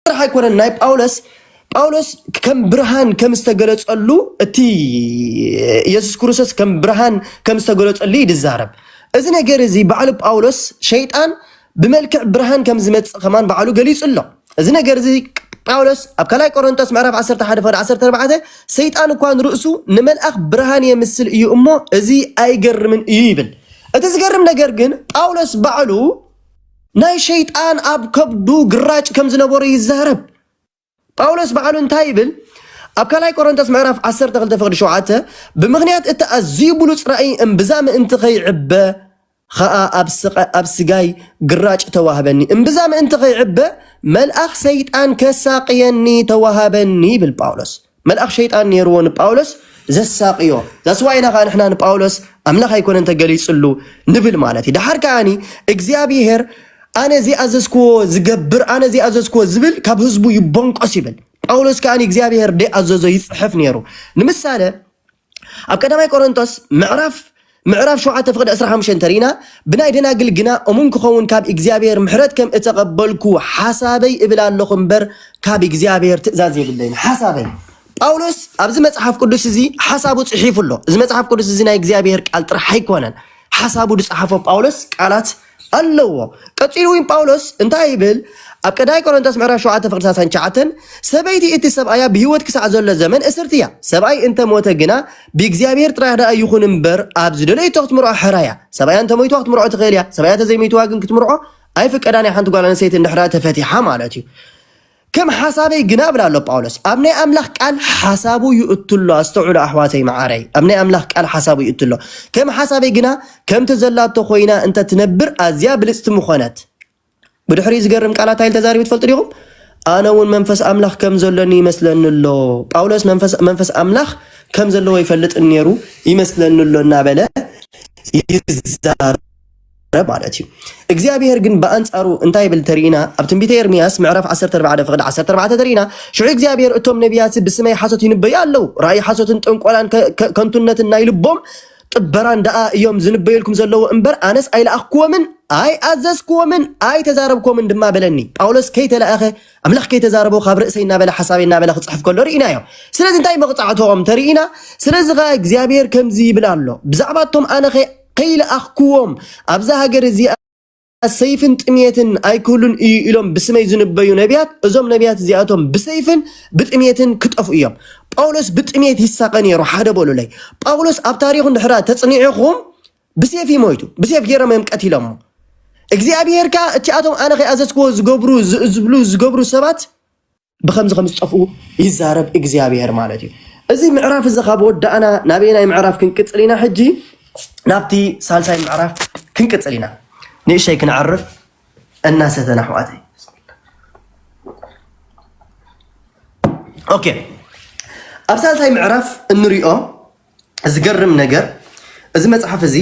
ጥራሕ ኣይኮነን ናይ ጳውሎስ ጳውሎስ ከም ብርሃን ከም ዝተገለጸሉ እቲ ኢየሱስ ክርስቶስ ከም ብርሃን ከም ዝተገለጸሉ እዩ ዝዛረብ እዚ ነገር እዚ ባዕሉ ጳውሎስ ሸይጣን ብመልክዕ ብርሃን ከም ዝመጽእ ከማን ባዕሉ ገሊጹ ኣሎ እዚ ነገር እዚ ጳውሎስ ኣብ ካልኣይ ቆሮንቶስ ምዕራፍ 11 ፈ 14 ሰይጣን እኳ ንርእሱ ንመልኣኽ ብርሃን የምስል እዩ እሞ እዚ ኣይገርምን እዩ ይብል እቲ ዝገርም ነገር ግን ጳውሎስ ባዕሉ ናይ ሸይጣን ኣብ ከብዱ ግራጭ ከም ዝነበሮ ይዛረብ። ጳውሎስ ባዕሉ እንታይ ይብል? ኣብ ካልኣይ ቆሮንቶስ ምዕራፍ ዓሰርተ ክልተ ፍቕዲ ሸውዓተ ብምኽንያት እቲ ኣዝዩ ብሉጽ ራእይ እምብዛ ምእንቲ ኸይዕበ ኸኣ ኣብ ስቐ ኣብ ስጋይ ግራጭ ተዋህበኒ፣ እምብዛ ምእንቲ ኸይዕበ መልኣኽ ሰይጣን ከሳቕየኒ ተዋሃበኒ ይብል ጳውሎስ። መልኣኽ ሸይጣን ኔርዎ ንጳውሎስ ዘሳቕዮ that's why ኢና ከኣ ንሕና ንጳውሎስ ኣምላኽ ኣይኮነን ተገሊጽሉ ንብል ማለት እዩ ደሓር ከኣኒ እግዚኣብሄር ኣነ ዘይኣዘዝክዎ ዝገብር ኣነ ዘይኣዘዝክዎ ዝብል ካብ ህዝቡ ይቦንቆስ ይብል ጳውሎስ ከኣ እግዚኣብሄር ደይኣዘዞ ይጽሕፍ ኔሩ ንምሳለ ኣብ ቀዳማይ ቆሮንቶስ ምዕራፍ ምዕራፍ ሸውዓተ ፍቅዲ ዕስራ ሓሙሽተ እንተሪኢና ብናይ ደናግል ግና እሙን ክኸውን ካብ እግዚኣብሔር ምሕረት ከም እተቀበልኩ ሓሳበይ እብል ኣለኹ እምበር ካብ እግዚኣብሔር ትእዛዝ የብለይን ሓሳበይ ጳውሎስ ኣብዚ መጽሓፍ ቅዱስ እዚ ሓሳቡ ጽሒፉ ኣሎ እዚ መጽሓፍ ቅዱስ እዚ ናይ እግዚኣብሔር ቃል ጥራሕ ኣይኮነን ሓሳቡ ዝጸሓፎ ጳውሎስ ቃላት ኣለዎ። ቀጺሉ እውን ጳውሎስ እንታይ ይብል? ኣብ ቀዳማይ ቆሮንቶስ ምዕራፍ ሸውዓተ ፍቕዲ ሰላሳን ትሽዓተን ሰበይቲ እቲ ሰብኣያ ብህይወት ክሳዕ ዘሎ ዘመን እስርቲ እያ፣ ሰብኣይ እንተ ሞተ ግና ብእግዚኣብሄር ጥራሕ ደኣ ይኹን እምበር ኣብ ዝደለየቶ ክትምርዖ ሕራ እያ። ሰብኣያ እንተ ሞይትዋ ክትምርዖ ትኽእል እያ፣ ሰብኣያ እንተ ዘይሞይትዋ ግን ክትምርዖ ኣይፍቀዳን እያ፣ ሓንቲ ጓል ኣንስተይቲ እንድሕር ተፈቲሓ ማለት እዩ። ከም ሓሳበይ ግና እብል ኣሎ ጳውሎስ ኣብ ናይ ኣምላኽ ቃል ሓሳቡ ይእቱ ኣሎ ኣስተውዕሉ ኣሕዋተይ መዓረይ ኣብ ናይ ኣምላኽ ቃል ሓሳቡ ይእቱ ኣሎ ከም ሓሳበይ ግና ከምቲ ዘላቶ ኮይና እንተ ትነብር ኣዝያ ብልጽቲ ምኾነት ብድሕሪ ዝገርም ቃላት ኣይል ተዛሪቡ ትፈልጡ ዲኹም ኣነ እውን መንፈስ ኣምላኽ ከም ዘሎኒ ይመስለኒ ኣሎ ጳውሎስ መንፈስ ኣምላኽ ከም ዘለዎ ይፈልጥ ነይሩ ይመስለኒ ኣሎ እናበለ ይዛረብ ማለት እዩ እግዚኣብሄር ግን ብኣንጻሩ እንታይ ይብል ተርኢና ኣብ ትንቢተ ኤርምያስ ምዕራፍ 14 ፍቕዲ 14 ተርኢና ሽዑ እግዚኣብሄር እቶም ነቢያት ብስመይ ሓሶት ይንበዩ ኣለዉ ራእይ ሓሶትን ጥንቆላን ከንቱነትን ናይ ልቦም ጥበራን ደኣ እዮም ዝንበየልኩም ዘለዉ እምበር ኣነስ ኣይለኣኽክዎምን ኣይኣዘዝክዎምን ኣይተዛረብክዎምን ድማ በለኒ ጳውሎስ ከይተለኣኸ ኣምላኽ ከይተዛረቦ ካብ ርእሰይ እናበለ ሓሳበይ እናበለ ክፅሕፍ ከሎ ርኢና እዮም ስለዚ እንታይ መቕፃዕትኦም ተርኢና ስለዚ ከዓ እግዚኣብሄር ከምዚ ይብል ኣሎ ብዛዕባ እቶም ኣነ ከይለኣኽኩዎም ኣብዛ ሃገር እዚኣ ሰይፍን ጥምየትን ኣይክህሉን እዩ ኢሎም ብስመይ ዝንበዩ ነቢያት እዞም ነቢያት እዚኣቶም ብሰይፍን ብጥምየትን ክጠፍኡ እዮም ጳውሎስ ብጥምየት ይሳቐ ነይሩ ሓደ በሉለይ ጳውሎስ ኣብ ታሪኹ ድሕራ ተጽኒዕኹም ብሴፍ እዩ ሞይቱ ብሴፍ ገይሮም እዮም ቀቲሎሞ እግዚኣብሄር ከዓ እቲኣቶም ኣነ ከይኣዘዝክዎ ዝገብሩ ዝብሉ ዝገብሩ ሰባት ብከምዚ ከም ዝጠፍኡ ይዛረብ እግዚኣብሄር ማለት እዩ እዚ ምዕራፍ እዚ ካብ ወዳእና ናበይ ናይ ምዕራፍ ክንቅፅል ኢና ሕጂ ናብቲ ሳልሳይ ምዕራፍ ክንቅፅል ኢና ንእሸይ ክንዕርፍ እናሰተን ኣሕዋተይ ኦኬ ኣብ ሳልሳይ ምዕራፍ እንሪኦ ዝገርም ነገር እዚ መፅሓፍ እዚ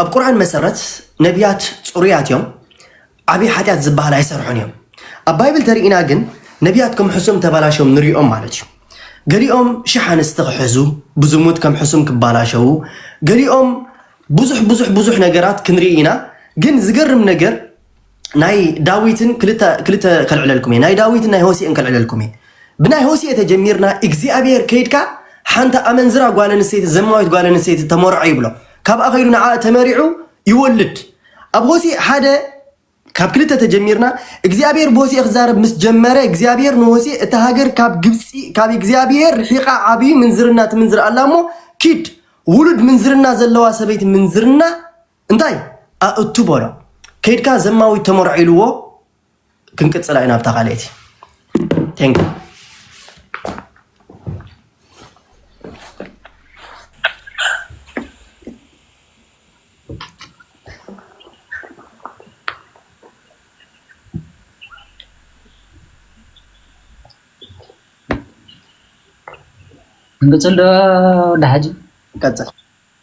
ኣብ ቁርኣን መሰረት ነቢያት ፅሩያት እዮም ዓብዪ ሓጢኣት ዝበሃል ኣይሰርሑን እዮም ኣብ ባይብል ተርኢና ግን ነቢያት ከም ሕሱም ተባላሸም ንሪኦም ማለት እዩ ገሊኦም ሽሕ ኣንስቲ ክሕዙ ብዝሙት ከም ሕሱም ክባላሸው ገሊኦም ብዙሕ ብዙሕ ብዙሕ ነገራት ክንርኢ ኢና ግን ዝገርም ነገር ናይ ዳዊትን ክልተ ክልተ ከልዕለልኩም እየ ናይ ዳዊትን ናይ ሆሴእን ከልዕለልኩም እየ ብናይ ሆሴእ ተጀሚርና እግዚኣብሔር ከይድካ ሓንቲ ኣመንዝራ ጓል ኣንስተይቲ ዘማዊት ጓል ኣንስተይቲ ተመርዖ ይብሎ ካብኣ ከይዱ ንዓ ተመሪዑ ይወልድ ኣብ ሆሴእ ሓደ ካብ ክልተ ተጀሚርና እግዚኣብሔር ብሆሴእ ክዛረብ ምስ ጀመረ እግዚኣብሔር ንሆሴእ እታ ሃገር ካብ ግብፂ ካብ እግዚኣብሔር ርሒቃ ዓብዩ ምንዝርና ትምንዝር ኣላ እሞ ኪድ ውሉድ ምንዝርና ዘለዋ ሰበይቲ ምንዝርና እንታይ ኣእቱ በሎ ከይድካ ዘማዊት ተመርዖ ኢልዎ ክንቅፅላ ኢና ኣብታ ካልኤቲ ቴንክ እንቅፅል ዶ ዳሓጂ ቀፅል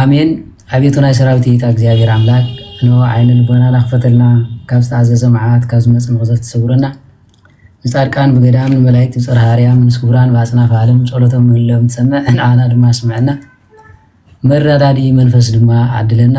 ኣሜን ኣቤቱ ናይ ሰራዊት ጌታ እግዚኣብሔር ኣምላክ እንሆ ዓይነ ልቦናና ክፈተልና ካብ ዝተኣዘዘ መዓት ካብ ዝመጽእ መቅዘፍቲ ሰውረና ንጻድቃን ብገዳም ንመላእክት ብጽርሃ ኣርያም ምስ ክቡራን ብኣጽናፈ ዓለም ጸሎቶም ምህሎም ትሰምዕ ንዓና ድማ ስምዕና መረዳዲ መንፈስ ድማ ዓድለና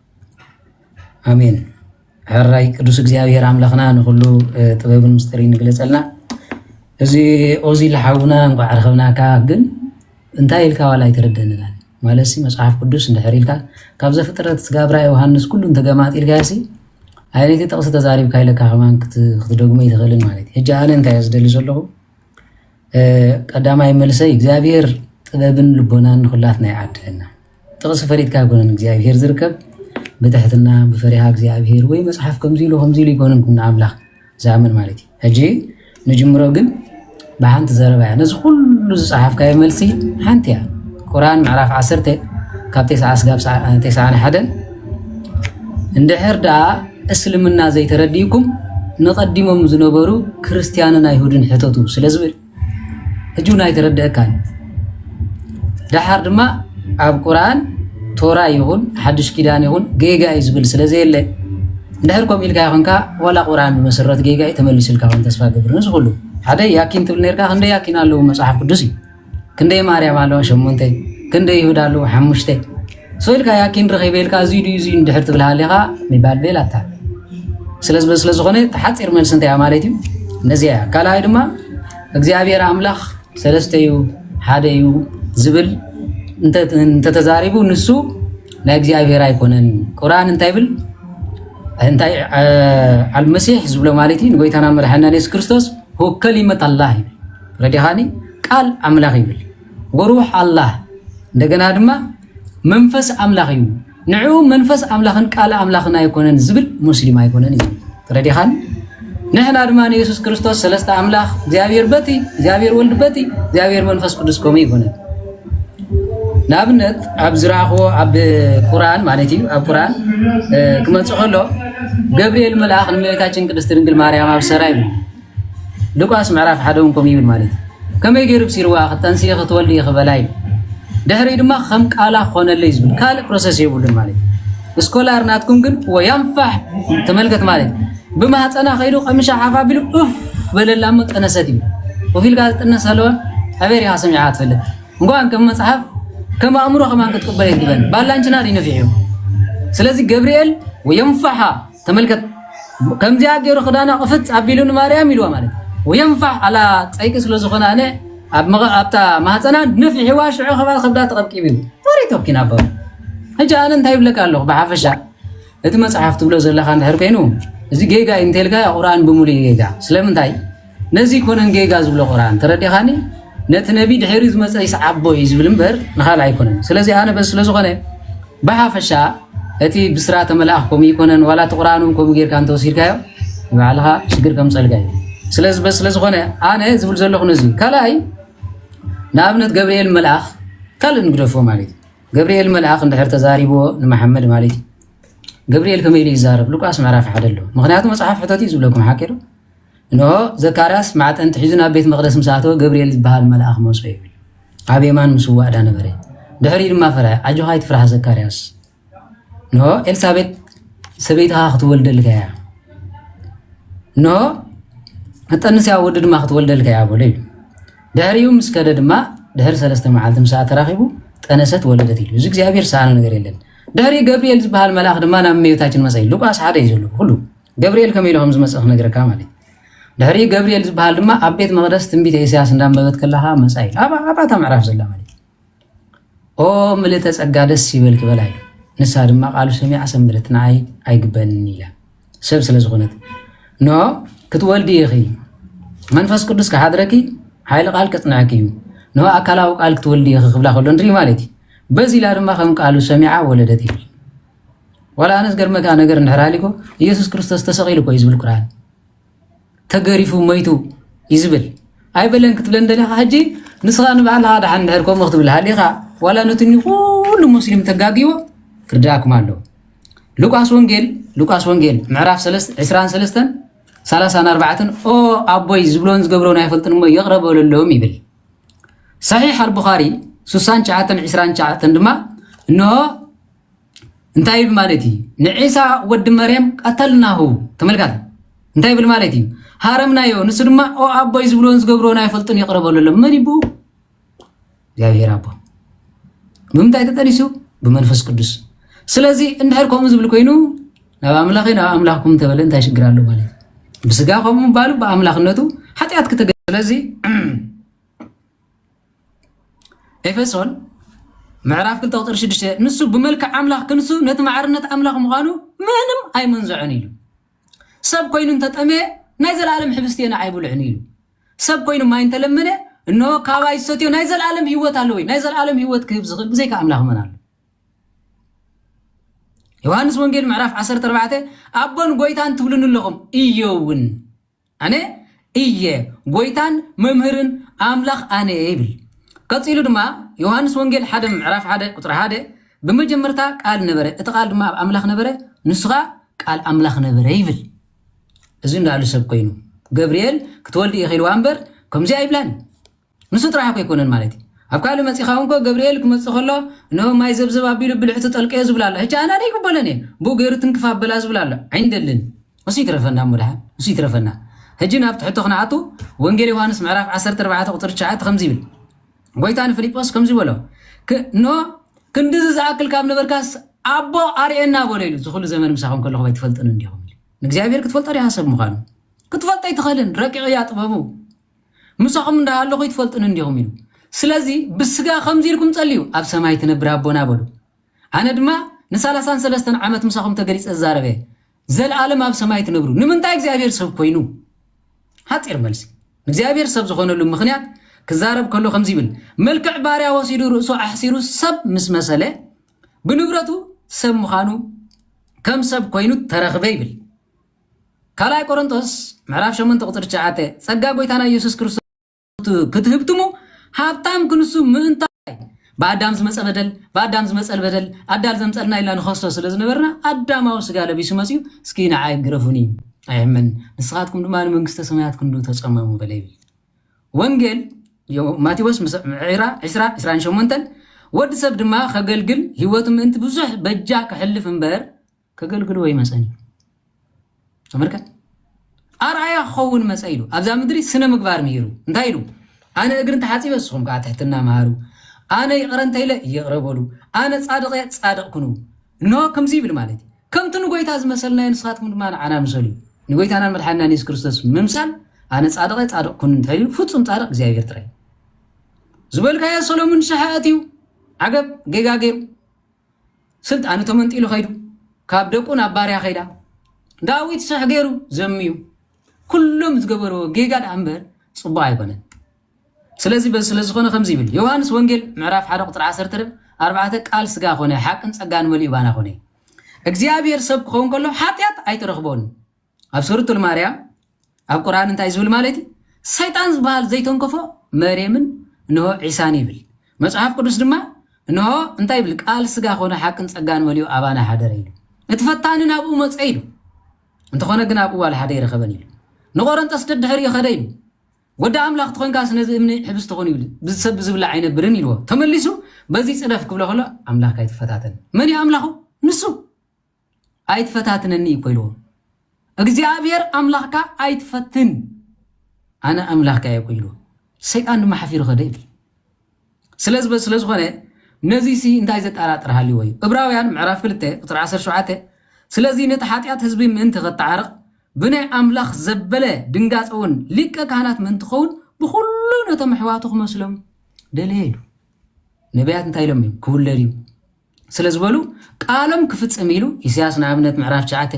ኣሜን ሕራይ ቅዱስ እግዚኣብሔር ኣምላኽና ንኩሉ ጥበብን ምስጢርን ይግለፀልና። እዚ ኦዚ ልሓውና እንኳዕ ረኸብናካ ግን እንታይ ኢልካ ዋላ ኣይተረደንና ማለት ሲ መፅሓፍ ቅዱስ እንድሕር ኢልካ ካብ ዘፍጥረት ስጋብራ ዮሃንስ ኩሉ እንተገማጥ ኢልካ ሲ ኣይነቲ ጥቕሲ ተዛሪብካ ኢለካ ከማን ክትደግሞ ይትኽእልን ማለት እዩ። ሕጂ ኣነ እንታይ ዝደሊ ዘለኹ ቀዳማይ መልሰይ እግዚኣብሔር ጥበብን ልቦናን ንኩላትና ይዓድለና። ጥቕሲ ፈሊጥካ ኣይኮነን እግዚኣብሔር ዝርከብ ብትሕትና ብፈሪሃ እግዚኣብሔር ወይ መፅሓፍ ከምዚ ኢሉ ከምዚ ኢሉ ይኮነን ንኣምላኽ ዝኣምን ማለት እዩ። ሕጂ ንጅምሮ ግን ብሓንቲ ዘረባ እያ ነዚ ኩሉ ዝፀሓፍካዮ መልሲ ሓንቲ እያ ቁርኣን ምዕራፍ ዓሰርተ ካብ ቴስዓ ስጋብ ቴስዓን ሓደን እንድሕር ደኣ እስልምና ዘይተረዲእኩም ንቀዲሞም ዝነበሩ ክርስትያንን ኣይሁድን ሕተቱ ስለ ዝብል ሕጂ እውን ኣይተረድአካን። ደሓር ድማ ኣብ ቁርኣን ቶራ ይኹን ሓዱሽ ኪዳን ይኹን ጌጋ እዩ ዝብል ስለ ዘየለ እንድሕር ከምኡ ኢልካ ይኹንካ ዋላ ቁርኣን ብመሰረት ጌጋ እዩ ተመሊሱልካ ውን ተስፋ ገብር ንዝኹሉ ሓደ ያኪን ትብል ነርካ ክንደይ ያኪን ኣለዉ መፅሓፍ ቅዱስ እዩ ክንደይ ማርያም ኣለዋ ሸሞንተ ክንደይ ይሁዳ ኣለዎ ሓሙሽተ ሰው ኢልካ ያኪን ረኺበ ኢልካ እዙይ ድዩ እዙይ እንድሕር ትብል ሃሊኻ ሚባልቤል ኣታ ስለ ዝኾነ ተሓፂር መልሲ እንታይ ማለት እዩ ነዚያ እያ ካልኣይ ድማ እግዚኣብሔር ኣምላኽ ሰለስተ እዩ ሓደ እዩ ዝብል እንተተዛሪቡ ንሱ ናይ እግዚኣብሔር ኣይኮነን ቁርኣን እንታይ ብል እንታይ ኣልመሲሕ ዝብሎ ማለት እዩ ንጎይታና መድሓና የሱስ ክርስቶስ ሁከሊመት ኣላህ እዩ ረዲኻኒ ቃል ኣምላኽ ይብል ወሩሕ ኣላህ እንደገና ድማ መንፈስ ኣምላኽ እዩ ንዑ መንፈስ ኣምላኽን ቃል ኣምላኽን ኣይኮነን ዝብል ሙስሊም ኣይኮነን እዩ ረዲኻኒ ንሕና ድማ ንየሱስ ክርስቶስ ሰለስተ ኣምላኽ እግዚኣብሔር በቲ እግዚኣብሔር ወልድ በቲ እግዚኣብሔር መንፈስ ቅዱስ ከምኡ ይኮነን ንኣብነት ኣብ ዝረኣኽዎ ኣብ ቁርን ማለት እዩ ኣብ ቁርን ክመፅእ ከሎ ገብርኤል መልኣኽ ንእመቤታችን ቅድስት ድንግል ማርያም ኣብ ሰራ ይብሉ ሉቃስ ምዕራፍ ሓደ እውን ከምኡ ይብል ማለት እዩ ከመይ ገይሩ ብሲርዋ ክተንስኢ ክትወልድ ክበላ እዩ ድሕሪ ድማ ከም ቃላ ክኾነለይ ዝብል ካልእ ፕሮሰስ የብሉን ማለት እዩ ስኮላር ናትኩም ግን ወያንፋሕ ተመልከት ማለት እዩ ብማህፀና ከይዱ ቀምሻ ሓፍ ኣቢሉ ኡፍ በለላ እሞ ጠነሰት እዩ ወፍ ኢልካ ዝጥነስ ኣለወ ኣበይ ሪኻ ሰሚዕካ ትፈልጥ እንኳን ከም መፅሓፍ ከም ኣእምሮ ከማን ክትቅበል የትግበን ባላንችና ድዩ ነፊሕ እዩ ስለዚህ ገብርኤል ወየንፋሓ ተመልከት ከምዚኣ ገይሩ ክዳና ቅፍፅ ኣቢሉ ንማርያም ኢልዋ ማለት ወየንፋዕ ኣላ ፀይቂ ስለዝኾነ ኣነ ኣብታ ማህፀና ንፍሒዋ ሽዑ ከባል ከብዳ ተቐብቂቡ እዩ ወሬት ወኪና ኣባ ሕጂ ኣነ እንታይ ይብለካ ኣለኹ ብሓፈሻ እቲ መፅሓፍ ትብሎ ዘለካ እንድሕር ኮይኑ እዚ ጌጋ እዩ እንተልካ ቁርኣን ብምሉእ ጌጋ ስለምንታይ ነዚ ኣይኮነን ጌጋ ዝብሎ ቁርኣን ተረዲኻኒ ነቲ ነቢ ድሒሪ ዝመፀ ይስዓቦ እዩ ዝብል እምበር ንኻልእ ኣይኮነን ስለዚ ኣነ በዚ ስለዝኾነ ብሓፈሻ እቲ ብስራተ መልኣኽ ከምኡ ይኮነን ዋላ እቲ ቁርኣን እውን ከምኡ ጌርካ እንተወሲድካዮ ንባዕልኻ ሽግር ከም ፀልጋ እዩ ስለዚ በዚ ስለዝኾነ ኣነ ዝብል ዘለኹ ነዚ ካልኣይ ንኣብነት ገብርኤል መልኣኽ ካልእ ንግደፎ ማለት እዩ ገብርኤል መልኣኽ እንድሕር ተዛሪብዎ ንመሓመድ ማለት እዩ ገብርኤል ከመይ ኢሉ ይዛረብ ሉቃስ ምዕራፍ ሓደ ኣሎ ምክንያቱ መፅሓፍ ሕተት እዩ ዝብለኩም ሓቂ ዶ እንሆ፣ ዘካርያስ ማዕጠንቲ ሒዙ ናብ ቤት መቕደስ ምስ ኣተወ፣ ገብርኤል ዝበሃል መልኣኽ መጾ ይብል። ኣብ የማን ምስዋእ እዳ ነበረ። ድሕሪኡ ድማ ፈርሀ። ኣጆኻ ኣይትፍራሕ ዘካርያስ። እንሆ፣ ኤልሳቤጥ ሰበይትኻ ክትወልደልካ እያ። እንሆ፣ እጠንስያ ወዲ ድማ ክትወልደልካ እያ በሎ ኢሉ። ድሕሪኡ ምስ ከደ ድማ ድሕሪ ሰለስተ መዓልቲ ምሳኣ ተራኺቡ ጠነሰት ወለደት ኢሉ እዚ እግዚኣብሔር ሰኣነ ነገር የለን ድሕሪ ገብርኤል ዝበሃል መልኣኽ ድማ ናብ እመቤታችን መፀ ሉቃስ ሓደ እዩ ዘሎ ኩሉ ገብርኤል ከመይ ኢሉ ከም ዝመፅእ ክነግረካ ማለት እዩ ድሕሪ ገብርኤል ዝበሃል ድማ ኣብ ቤት መቅደስ ትንቢት ኢሳያስ እንዳንበበት ከለካ መፃ ኢሉ ኣብታ ምዕራፍ ዘላ ማለት ኦ ምልእተ ፀጋ ደስ ይበል ክበላ ኢሉ ንሳ ድማ ቃሉ ሰሚዓ ሰንበደት ንዓይ ኣይግበንን ኢላ ሰብ ስለዝኮነት ኖ ክትወልዲ ኢኺ መንፈስ ቅዱስ ክሓድረኪ ሓይሊ ቃል ከፅንዐኪ እዩ ኖ ኣካላዊ ቃል ክትወልዲ ኢኺ ክብላ ከሎ ንርኢ ማለት እዩ በዚ ኢላ ድማ ከም ቃሉ ሰሚዓ ወለደት ይብል ዋላ ኣነ ዝገርመካ ነገር እንድሕር ሃሊኮ ኢየሱስ ክርስቶስ ተሰቂሉ እኮ እዩ ዝብል ቁርኣን ተገሪፉ መይቱ እዩ ዝብል ኣይበለን ክትብለ እንደለካ ሕጂ ንስኻ ንባዕልኻ ድሓን እንድሕር ከምኡ ክትብል ሃሊኻ ዋላ ነቲ ኩሉ ሙስሊም ተጋጊዎ ክርዳኣኩም ኣለዎ ሉቃስ ወንጌል ሉቃስ ወንጌል ምዕራፍ 23 30 4 ኦ ኣቦይ ዝብሎን ዝገብሮን ኣይፈልጥን እሞ ይቕረ በለሎም ይብል ሰሒሕ ኣልቡኻሪ 69 29 ድማ እንሆ እንታይ ይብል ማለት እዩ? ንዒሳ ወዲ መርየም ቀተልናሁ። ተመልካቲ እንታይ ይብል ማለት እዩ? ሃረምናዮ። ንሱ ድማ ኦ ኣቦይ ዝብልዎን ዝገብርዎን ኣይፈልጡን ይቕረ በለሎም። መን ይብኡ? እግዚኣብሔር ኣቦ። ብምንታይ ተጠኒሱ? ብመንፈስ ቅዱስ። ስለዚ እንድሕር ከምኡ ዝብል ኮይኑ ናብ ኣምላኸ ናብ ኣምላኽኩም ተበለ እንታይ ሽግር ኣሎ ማለት እዩ። ብስጋ ከምኡ ምባሉ ብኣምላኽነቱ ሓጢኣት ክተገ ስለዚ ኤፌሶን ምዕራፍ 2 ቁፅሪ 6 ንሱ ብመልክዕ ኣምላኽ ክንሱ ነቲ ማዕርነት ኣምላኽ ምዃኑ ምንም ኣይመንዝዖን ኢሉ ሰብ ኮይኑ እንተጠመየ ናይ ዘላለም ሕብስቲ ንዓይ ብልዕኒ ኢሉ ሰብ ኮይኑ ማይ እንተለመነ እኖ ካባይ ዝሰትዮ ናይ ዘላለም ህይወት ኣለዎ ናይ ዘላለም ህይወት ክህብ ዝኽእል ብዘይካ ኣምላኽ መን ኣሎ ዮሃንስ ወንጌል ምዕራፍ 14 ኣቦን ጎይታን ትብሉኒ ኣለኹም እዮ እውን ኣነ እየ ጎይታን መምህርን ኣምላኽ ኣነ እየ ይብል። ቀጺሉ ድማ ዮሃንስ ወንጌል ሓደ ምዕራፍ ሓደ ቁጽሪ ሓደ ብመጀመርታ ቃል ነበረ እቲ ቃል ድማ ኣብ ኣምላኽ ነበረ ንሱ ከኣ ቃል ኣምላኽ ነበረ ይብል። እዚ እንዳኣሉ ሰብ ኮይኑ ገብርኤል ክትወልዲ ኢኺ ኢልዋ እምበር ከምዚ ኣይብላን። ንሱ ጥራሕ እኮ ኣይኮነን ማለት እዩ ኣብ ካልእ መጺኻ እውን እኮ ገብርኤል ክመጽእ ከሎ እነሆ ማይ ዘብዘብ ኣቢሉ ብልዕቱ ጠልቀዮ ዝብል ኣሎ ሕጂ ኣነ ኣይቅበሎን እየ ብኡ ገይሩ ትንክፍ ኣበላ ዝብል ኣሎ ዓይንደልን እሱ ይትረፈና እሞ ድሓን እሱ ይትረፈና ሕጂ ናብቲ ሕቶ ክንኣቱ ወንጌል ዮሃንስ ምዕራፍ 14 ቁፅሪ 9 ከምዚ ይብል ጎይታ ንፊልጶስ ከምዚ በሎ እነሆ ክንድዚ ዝኣክል ካብ ነበርካስ ኣቦ ኣርእየና በሎ ኢሉ ዝኩሉ ዘመን ምሳኹም ከለኹም ኣይትፈልጡን እንዲኹም ንእግዚኣብሔር ክትፈልጦ ዲኻ ሰብ ምዃኑ ክትፈልጦ ኣይትኽእልን ረቂቕ እያ ጥበቡ ምሳኹም እንዳ ሃለኹ ኣይትፈልጡንን ዲኹም ኢሉ። ስለዚ ብስጋ ከምዚ ኢልኩም ጸልዩ ኣብ ሰማይ ትነብር ኣቦና በሉ። ኣነ ድማ ንሳላሳን ሰለስተን ዓመት ምሳኹም ተገሊጸ ዝዛረብ እየ። ዘልኣለም ኣብ ሰማይ ትነብሩ። ንምንታይ እግዚኣብሔር ሰብ ኮይኑ? ሓጺር መልሲ። እግዚኣብሔር ሰብ ዝኾነሉ ምኽንያት ክዛረብ ከሎ ከምዚ ይብል መልክዕ ባርያ ወሲዱ ርእሱ ኣሕሲሩ ሰብ ምስ መሰለ ብንብረቱ ሰብ ምዃኑ ከም ሰብ ኮይኑ ተረኽበ ይብል። ካልኣይ ቆሮንቶስ ምዕራፍ ሸሞንተ ቁጽሪ ትሽዓተ ጸጋ ጎይታና ኢየሱስ ክርስቶስ ክትህብትሙ ሃብታም ክንሱ ምእንታ ብኣዳም ዝመፀ በደል ብኣዳም ዝመፀል በደል ኣዳል ዘምፀልና ኢልና ንኸስቶ ስለ ዝነበርና ኣዳማዊ ስጋ ለቢሱ መፅዩ እስኪ ንዓይ ግረፉኒ ኣይሕመን ንስኻትኩም ድማ ንመንግስተ ሰማያት ክንዱ ተፀመሙ በለ ይብል ወንጌል ማቴዎስ ዕራ 20 28 ወዲ ሰብ ድማ ከገልግል ህይወቱ ምእንቲ ብዙሕ በጃ ክሕልፍ እምበር ከገልግልዎ ይመፀን እዩ ተመልከት ኣርኣያ ክኸውን መፀ ኢሉ ኣብዛ ምድሪ ስነ ምግባር ምሂሩ እንታይ ኢሉ ኣነ እግሪ እንተሓፂበ ንስኹም ከዓ ትሕትና መሃሩ ኣነ ይቕረ እንተኢለ ይቕረ በሉ ኣነ ፃድቕ እየ ፃድቕ ኩኑ እንሆ ከምዚ ይብል ማለት እዩ ከምቲ ንጎይታ ዝመሰልናዮ ንስኻትኩም ድማ ንዓና ምሰሉ እዩ ንጎይታናን መድሓንናን የሱስ ክርስቶስ ምምሳል ኣነ ፃድቐ ፃድቕ ኩኑ እንተኢሉ ፍፁም ፃድቕ እግዚኣብሔር ጥራይ ዝበልካዮ ሰሎሙን ሸሓ ኣትዩ ዓገብ ጌጋ ገይሩ ስልጣኑ ተመንጢሉ ከይዱ ካብ ደቁ ናብ ባርያ ከይዳ ዳዊት ስሕ ገይሩ ዘምዩ ኩሎም ዝገበርዎ ጌጋ ደኣ እምበር ፅቡቅ ኣይኮነን ስለዚ በዚ ስለዝኾነ ከምዚ ይብል ዮሃንስ ወንጌል ምዕራፍ ሓደ ቁፅሪ ዓሰርተ ርብ ኣርባዕተ ቃል ስጋ ኮነ ሓቅን ፀጋን መሊኡ ባና ኮነ እግዚኣብሔር ሰብ ክኸውን ከሎ ሓጢኣት ኣይተረኽቦን ኣብ ሱረቱል ማርያም ኣብ ቁርኣን እንታይ ዝብል ማለት እዩ ሰይጣን ዝበሃል ዘይተንከፎ መርየምን እንሆ ዒሳን ይብል መጽሓፍ ቅዱስ ድማ እንሆ እንታይ ይብል ቃል ስጋ ኮነ ሓቅን ጸጋን መሊኡ ኣባና ሓደረ ኢሉ እቲ ፈታኒ ናብኡ መጸ ኢሉ እንተኾነ ግን ኣብኡ ዋል ሓደ ይረኸበን ኢሉ ንቆረንጠስ ደድሕር ይኸደ ኢሉ ወዲ ኣምላኽ ትኾንካስ ነዚ እምኒ ሕብስ ትኾን ይብል ብዝሰብ ዝብላ ኣይነብርን ኢልዎ ተመሊሱ በዚ ጽደፍ ክብሎ ከሎ ኣምላኽ ኣይትፈታተን መን እዩ ኣምላኹ ንሱ ኣይትፈታትነኒ እኮ ኢልዎ እግዚኣብሔር ኣምላኽካ ኣይትፈትን ኣነ ኣምላኽካ እየ እኮ ኢልዎ ሰይጣን ድማ ሓፊሩ ከደ ይብል ስለዚ ስለዝኾነ ነዚሲ እንታይ ዘጠራጥር ሃልዎ እዩ እብራውያን ምዕራፍ 2 ቁፅሪ 17 ስለዚ ነቲ ሓጢኣት ህዝቢ ምእንቲ ከጠዓርቕ ብናይ ኣምላኽ ዘበለ ድንጋፀ እውን ሊቀ ካህናት ምእንቲ ኸውን ብኩሉ ነቶም ኣሕዋቱ ክመስሎም ደለየ ኢሉ ነቢያት እንታይ ኢሎም እዮም ክውለድ እዩ ስለ ዝበሉ ቃሎም ክፍጽም ኢሉ ኢሳያስ ንኣብነት ምዕራፍ ትሽዓተ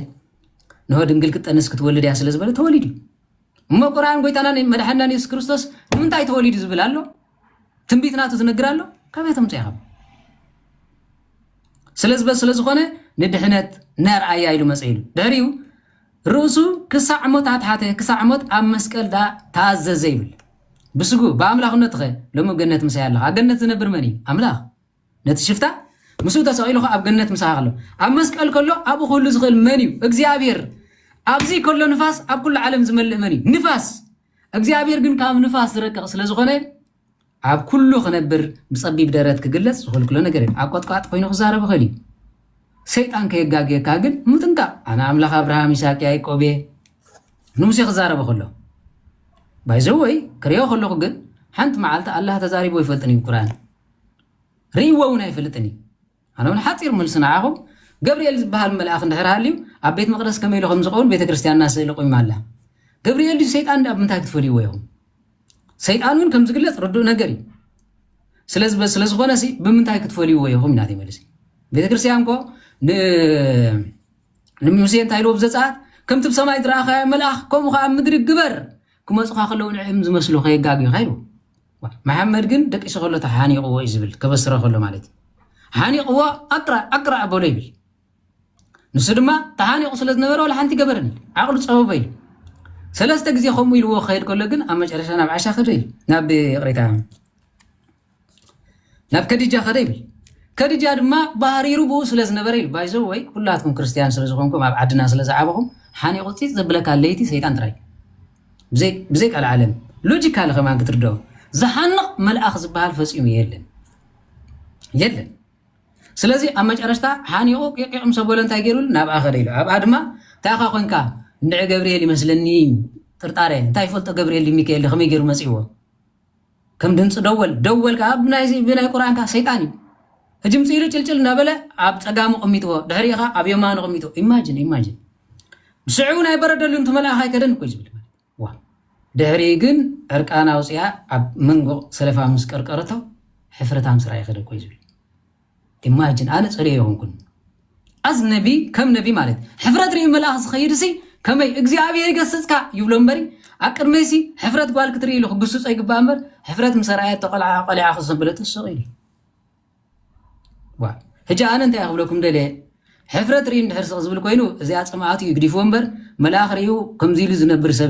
ንሆ ድንግል ክትጠንስ ክትወልድ እያ ስለ ዝበለ ተወሊዱ እዩ እሞ ቁርኣን ጎይታናን መድሓንናን የሱስ ክርስቶስ ንምንታይ ተወሊዱ ዝብል ኣሎ ትንቢት ናቱ ዝነግር ኣሎ ካበይ ተምፅኦ ኢኹም ስለዝበ ስለ ዝኾነ ንድሕነት ነርኣያ ኢሉ መፀ ኢሉ ድሕሪኡ ርእሱ ክሳዕ ሞት ኣትሓተ ክሳዕ ሞት ኣብ መስቀል ዳ ተኣዘዘ ይብል ብስጉ ብኣምላኽነትኸ ሎሚ ገነት ምሳይ ኣለኻ ኣብ ገነት ዝነብር መን እዩ ኣምላኽ ነቲ ሽፍታ ምስኡ ተሰቒሉ ኸኣ ኣብ ገነት ምሳኻ ከሎ ኣብ መስቀል ከሎ ኣብኡ ክህሉ ዝኽእል መን እዩ? እግዚኣብሔር። ኣብዚ ከሎ ንፋስ ኣብ ኩሉ ዓለም ዝመልእ መን እዩ? ንፋስ። እግዚኣብሔር ግን ካብ ንፋስ ዝረቅቕ ስለ ዝኾነ ኣብ ኩሉ ክነብር ብጸቢብ ደረት ክግለጽ ዝኽልክሎ ነገር እዩ። ኣብ ቆጥቋጥ ኮይኑ ክዛረብ ይኽእል እዩ። ሰይጣን ከየጋግየካ ግን ምጥንቃቕ። ኣነ ኣምላኽ ኣብርሃም ይስሐቅ ያዕቆብ እየ ንሙሴ ክዛረበ ከሎ ባይዘወይ ክሪኦ ከለኹ ግን ሓንቲ መዓልቲ ኣላህ ተዛሪቦ ይፈልጥን እዩ ቁርኣን ርእይዎ እውን ኣይፈልጥን እዩ። ኣነ እውን ሓፂር መልሲ ንዓኹም ገብርኤል ዝበሃል መልኣኽ እንድሕር ሃልዩ ኣብ ቤት መቕደስ ከመይ ኢሉ ከም ዝኸውን ቤተ ክርስቲያንና ስእሊ ቆይማ ኣላ። ገብርኤል ድዩ ሰይጣን ድኣ ብምንታይ ክትፈልይዎ ኢኹም? ሰይጣን እውን ከም ዝግለፅ ርዱእ ነገር እዩ። ስለ ዝኾነ ብምንታይ ክትፈልይዎ ኢኹም ናተይ መልሲ። ቤተ ክርስቲያን ኮ ንሙሴ እንታይ ኢልዎ ብዘፀኣት ከምቲ ብሰማይ ዝረኣኻዮ መልኣኽ ከምኡ ከዓ ኣብ ምድሪ ግበር ክመፁኻ ከለዉ ንዕም ዝመስሉ ከየጋግዩኻ ኢልዎ መሓመድ ግን ደቂሱ ከሎ ተሓኒቕዎ እዩ ዝብል ከበስረ ከሎ ማለት እዩ ሓኒቕዎ ኣቅራ ኣቅራ ኣበሎ ይብል ንሱ ድማ ተሓኒቑ ስለ ዝነበረ ዋላ ሓንቲ ገበርን ዓቕሉ ፀበበ ኢሉ ሰለስተ ግዜ ከምኡ ኢልዎ ክኸይድ ከሎ ግን ኣብ መጨረሻ ናብ ዓሻ ከደ ይብል ናብ ይቕሬታ ናብ ከዲጃ ከደ ይብል ከዲጃ ድማ ባህሪሩ ብኡ ስለ ዝነበረ ኢሉ ባይዞ ወይ ኩላትኩም ክርስትያን ስለ ዝኾንኩም ኣብ ዓድና ስለ ዝዓበኹም ሓኒቑ ፂፅ ዘብለካ ለይቲ ሰይጣን ጥራይ ብዘይ ቀልዓለም ሎጂካሊ ከማን ክትርደኦ ዝሃንቕ መልኣኽ ዝበሃል ፈጺሙ የለን የለን ስለዚ ኣብ መጨረሽታ ሓኒቑ ቂቂቕ ምስ ኣበሎ እንታይ ገይሩ ናብኣ ከደ ኢሉ ኣብኣ ድማ እንታይ ኢኻ ኮንካ እንድዒ ገብርኤል ይመስለኒ ጥርጣረ እንታይ ይፈልጦ ገብርኤል ሚካኤል ከመይ ገይሩ መፂእዎ ከም ድምፂ ደወል ደወል ከዓ ብናይ ብናይ ቁርኣን ከዓ ሰይጣን እዩ ህጂ ምፅ ኢሉ ጭልጭል እናበለ ኣብ ፀጋሙ ቅሚጥዎ ድሕሪኡ ከዓ ኣብ የማኑ ቅሚጡ ኢማጅን ኢማጅን ብስዕቡ ናይ በረደሉ እንትመልኣኻ ኣይከደን እኮ እዩ ዝብል ማለት እዩ። ዋ ድሕሪ ግን ዕርቃና ኣውፅኣ ኣብ መንጎ ሰለፋ ምስ ቀርቀረቶ ሕፍረታም ስራይ ይኸደ እኮ እዩ ዝብል ኢማጅን ኣነ ጸልዮ ኣይኮንኩን ኣዝ ነቢ ከም ነቢ ማለት ሕፍረት ርኢ መልኣኽ ዝኸይድ ሲ ከመይ እግዚኣብሔር ይገስጽካ ይብሎ እምበሪ ኣብ ቅድመይ ሲ ሕፍረት ጓል ክትርኢ ኢሉ ክግስጾ ይግባእ እምበር ሕፍረት ምስ ኣርኣየት ተቆልዓ ቆልዓ ክሰብለጥ ስቕ ኢሉ ዋ ሕጂ ኣነ እንታይ ክብለኩም ደለ ሕፍረት ርኢ እንድሕር ስቕ ዝብል ኮይኑ እዚኣ ጽምኣቱ ይግዲፍዎ እምበር መልኣኽ ርእዩ ከምዚ ኢሉ ዝነብር ሰብ